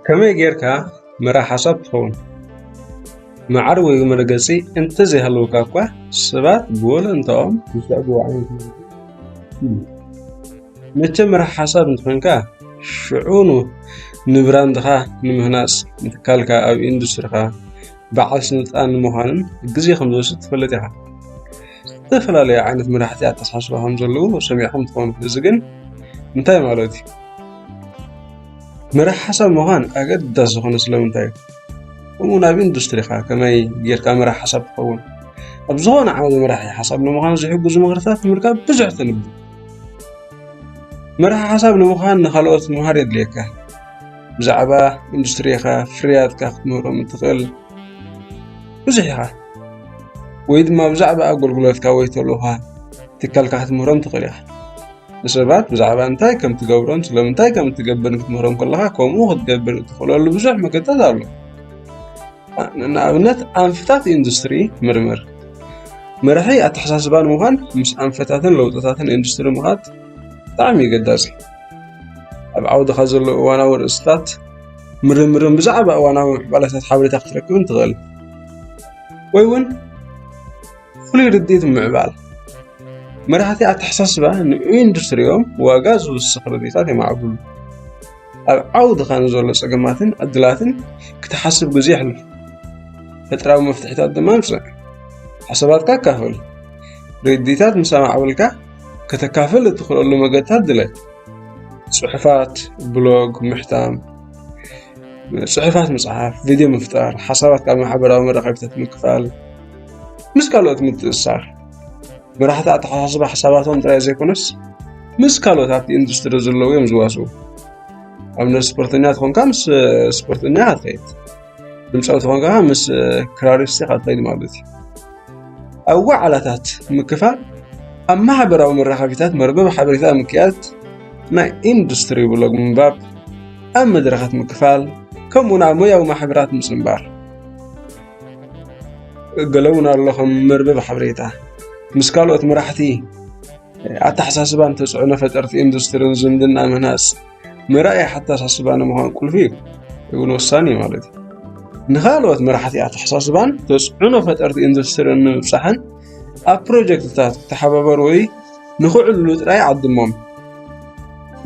ከመይ ጌርካ መራሕ ሓሳብ ትኸውን? መዓር ወይ መርገጺ እንተዘይሃለወካ እኳ ሰባት ብወለንታኦም ዝስዕብዎ ዓይነት መግቢ እዩ። መቸም መራሕ ሓሳብ እንተኾይንካ ሽዑኑ ንብራንድኻ ንምህናፅ ንትካልካ ኣብ ኢንዱስትሪኻ በዓል ስልጣን ንምዃንን ግዜ ከምዝወስድ ትፈልጥ ኢኻ። ዝተፈላለዩ ዓይነት መራሕቲ ኣተሓሳስባ ከም ዘለዉ ሰሚዕኩም ትኾኑ። እዚ ግን እንታይ ማለት እዩ? መራሒ ሓሳብ ምዃን ኣገዳሲ ዝኾነ ስለምንታይ እዩ? ከምኡውን ኣብ ኢንዱስትሪኻ ከመይ ጌርካ መራሒ ሓሳብ ትኸውን? ኣብ ዝኾነ ዓውደ መራሒ ሓሳብ ንምዃን ዝሕግዙ ምኽርታት ንምርካብ ብዙሕ ተንብብ። መራሒ ሓሳብ ንምዃን ንኻልኦት ምምሃር የድልየካ። ብዛዕባ ኢንዱስትሪኻ፣ ፍርያትካ ክትምህሮም እትኽእል ብዙሕ ኢኻ። ወይ ድማ ብዛዕባ ኣገልግሎትካ ወይ ተልእኾ ትካልካ ክትምህሮም ትኽእል ኢኻ። ንሰባት ብዛዕባ እንታይ ከም ትገብሮን ስለምንታይ ከም እትገብርን ክትምህሮም ከለኻ ከምኡ ክትገብር እትኽእለሉ ብዙሕ መገድታት ኣሎ። ንኣብነት ኣንፈታት ኢንዱስትሪ ምርምር መራሒ ኣተሓሳስባ ንምዃን ምስ ኣንፈታትን ለውጥታትን ኢንዱስትሪ ምኻድ ብጣዕሚ ኣገዳሲ ኣብ ዓውድኻ ዘለዉ እዋናዊ ርእስታት ምርምርን ብዛዕባ እዋናዊ ምዕባለታት ሓበሬታ ክትረክብን ትኽእል ወይ እውን ፍሉይ ርድኢት ምዕባል መራሕቲ ኣተሓሳስባ ንኢንዱስትሪኦም ዋጋ ዝውስኽ ርድኢታት የማዕብሉ ኣብ ዓውድኻ ንዘሎ ፀገማትን ዕድላትን ክትሓስብ ግዜ የሕልፉ ፈጠራዊ መፍትሒታት ድማ ምፅእ ሓሳባትካ ኣካፍል ርድኢታት ምስ ኣማዕበልካ ከተካፍል እትኽእለሉ መገድታት ድለ ጽሑፋት ብሎግ ምሕታም፣ ጽሑፋት ምጽሓፍ፣ ቪድዮ ምፍጣር፣ ሓሳባት ካብ ማሕበራዊ መራኸቢታት ምክፋል፣ ምስ ካልኦት ምትእስሳር መራሕቲ ኣተሓሳስባ ሓሳባቶም ጥራይ ዘይኮነስ ምስ ካልኦት ኣብቲ ኢንዱስትሪ ዘለዉ እዮም ዝዋስኡ ኣብነት ስፖርተኛ ትኾንካ ምስ ስፖርተኛ ትኸይድ ብልጫዊ ዝኾን ከዓ ምስ ክራሪስቲ ካትለይድ ማለት እዩ ኣብ ዋዕላታት ምክፋል ኣብ ማሕበራዊ መራኸቢታት መርበብ ሓበሬታ ምክያድ ናይ ኢንዱስትሪ ብሎግ ምንባብ ኣብ መድረኻት ምክፋል ከምኡ ናብ ሞያዊ ማሕበራት ምፅንባር ገለ እውን ኣለኹም መርበብ ሓበሬታ ምስ ካልኦት መራሕቲ ኣተሓሳስባን ተፅዕኖ ፈጠርቲ ኢንዱስትሪን ዝምድና ምህናፅ መርኣያ ኣተሓሳስባ ንምዃን ቁልፊ እዩ እውን ወሳኒ እዩ ማለት እዩ ንካልኦት መራሕቲ ኣተሓሳስባን ተፅዕኖ ፈጠርቲ ኢንዱስትሪን ንምብፃሕን ኣብ ፕሮጀክትታት ክተሓባበሩ ወይ ንክዕልሉ ጥራይ ዓድሞም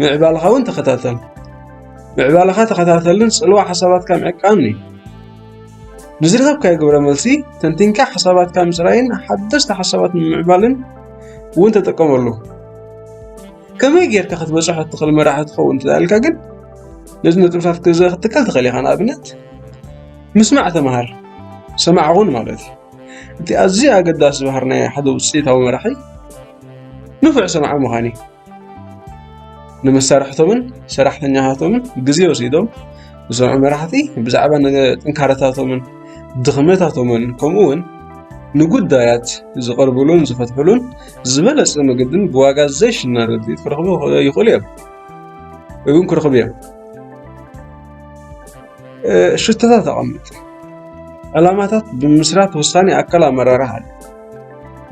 ምዕባልኻ እውን ተኸታተል ምዕባልኻ ተኸታተልን ፅልዋ ሓሳባትካ ምዕቃን እዩ ንዝረኸብካዮ ግብረ መልሲ ተንቲንካ ሓሳባትካ ምፅራይን ሓደስቲ ሓሳባት ንምምዕባልን እውን ተጠቀመሉ ከመይ ጌርካ ክትበፅሖ እትኽእል መራሒ ትኸውን እንተዳልካ ግን ነዚ ነጥብታት ገዛ ክትከል ትኽእል ኢኻ ንኣብነት ምስማዕ ተምሃር ሰማዕ ኹን ማለት እዩ እቲ ኣዝዩ ኣገዳሲ ባህር ናይ ሓደ ውፅኢታዊ መራሒ ንፉዕ ሰማዕ ምዃን እዩ ንመሳርሕቶምን ሰራሕተኛታቶምን ግዜ ወሲዶም ዝሰምዑ መራሕቲ ብዛዕባ ጥንካረታቶምን ድኽመታቶምን ከምኡ እውን ንጉዳያት ዝቐርብሉን ዝፈትሕሉን ዝበለፀ መገድን ብዋጋ ዘይሽነ ረድኤት ክረኽቡ ይኽእሉ እዮም እውን ክረኽቡ እዮም ሽቶታት ኣቐምጥ ዕላማታት ብምስራት ውሳኔ ኣካል ኣመራርሓ ኣሎ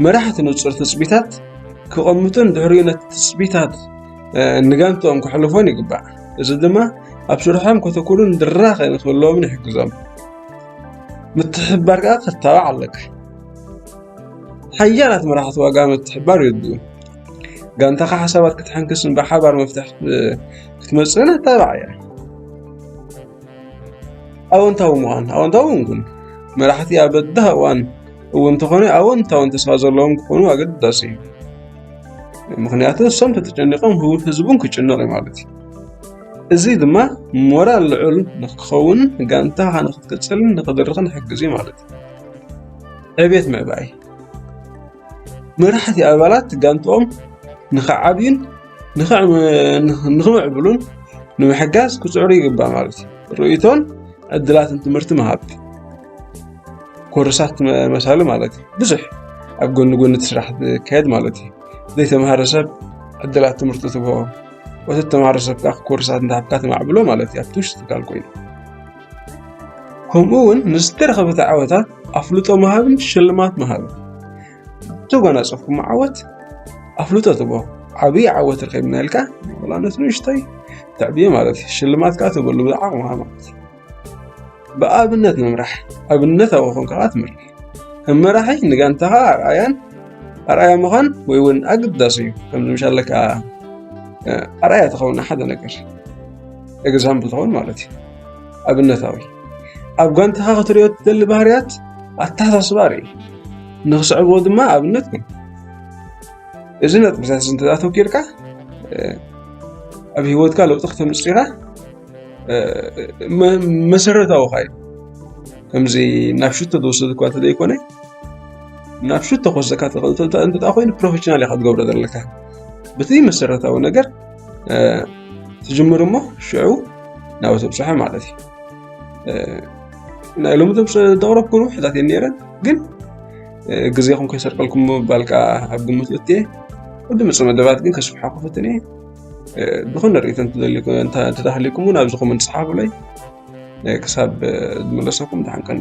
መራሕቲ ንፁር ትፅቢታት ክቐምጡን ድሕሪኡ ነቲ ትፅቢታት ንጋንትኦም ክሕልፎን ይግባእ እዚ ድማ ኣብ ስርሖም ከተኩሩን ድራኸ ንክህልዎምን ይሕግዞም ምትሕብባር ከዓ ክተባዕ ኣለካ ሓያላት መራሕቲ ዋጋ ምትሕብባር ይርድኡ። ጋንታኻ ሓሳባት ክትሕንክስን ብሓባር መፍትሒ ክትመፅእን ኣተባባዕ እያ። ኣወንታዊ ምዃን ኣወንታዊ ምንኩን መራሕቲ ኣብ በዳህ እዋን እውን እንተኾነ ኣወንታውን ተስፋ ዘለዎም ክኾኑ ኣገዳሲ እዩ። ምክንያቱ እሶም ተተጨኒቆም ህውፍ ህዝቡን ክጭነቕ እዩ ማለት እዩ። እዚ ድማ ሞራል ልዑል ንክኸውን ጋንታኻ ንክትቅፅልን ንክድርኽን ይሕግዝ እዩ ማለት እዩ። ዕቤት ምዕባይ መራሕቲ ኣባላት ጋንትኦም ንኽዓብዩን ንኽምዕብሉን ንምሕጋዝ ክፅዕሩ ይግባእ ማለት እዩ። ርእይቶን ዕድላትን ትምህርቲ ምሃብ ኮርሳት መሳሉ ማለት እዩ። ብዙሕ ኣብ ጎኒ ጎኒ እቲ ስራሕ ዝካየድ ማለት እዩ። ዘይተምሃረ ሰብ ዕድላት ትምህርቲ ትቦ ወተተምሃረ ሰብ ከዓ ኮርሳት እንዳሃብካ ተማዕብሎ ማለት እዩ ኣብቲ ውሽጢ ትካል ኮይኑ ከምኡ እውን ምስ ዝተረኸበቲ ዓወታት ኣፍልጦ ምሃብን ሽልማት ምሃብን እተጓናፀፍኩም ዓወት ኣፍልጦ ትቦ ዓብዪ ዓወት ረኺብና ኢልካ ወላነት ንእሽተይ ተዕብዮ ማለት እዩ ሽልማት ከዓ ትበሉ ብዓቕምኻ ማለት እዩ ብኣብነት ምምራሕ ኣብነታዊ ኮንካ ትምህር ከም መራሒ ንጋንታኻ ኣርኣያን ኣርኣያ ምዃን ወይ እውን ኣገዳሲ እዩ ከም ንምሻለ ከዓ ኣርኣያ ትኸውን ሓደ ነገር ኤግዛምፕል ትኸውን ማለት እዩ ኣብነታዊ ኣብ ጋንታኻ ክትሪኦ ትደሊ ባህርያት ኣተሓሳስባ ርኢ ንክስዕብዎ ድማ ኣብነት ግን እዚ ነጥብታት እዚ እንተዘኣተኪርካ ኣብ ሂወትካ ለውጢ ክተምፅእ ኢኻ መሰረታዊ ካዩ ከምዚ ናብ ሽቶ ዝወሰድ እኳ እንተዘይኮነ ናብ ሽቶ ክወስደካ ዝኽእል እንተድኣ ኮይኑ ፕሮፌሽናል ኢኻ ክትገብሮ ዘለካ በቲ መሰረታዊ ነገር ትጅምር እሞ ሽዑ ናብ ተብፅሖ ማለት እዩ ናይ ሎሚ ዘቕረብኩ ርብሕታት እየን ነይረን ግን ግዜኹም ከይሰርቀልኩም ምባል ከዓ ኣብ ግምት እትየ ቅድሚ መደባት ግን ከስፍሓ ክፍትን እየ ዝኾነ ርእቶ እንተተሃሊኩም እውን ኣብዚ ኮመንት ፀሓፉለይ ክሳብ ዝመለሰኩም ድሓን ቀኒ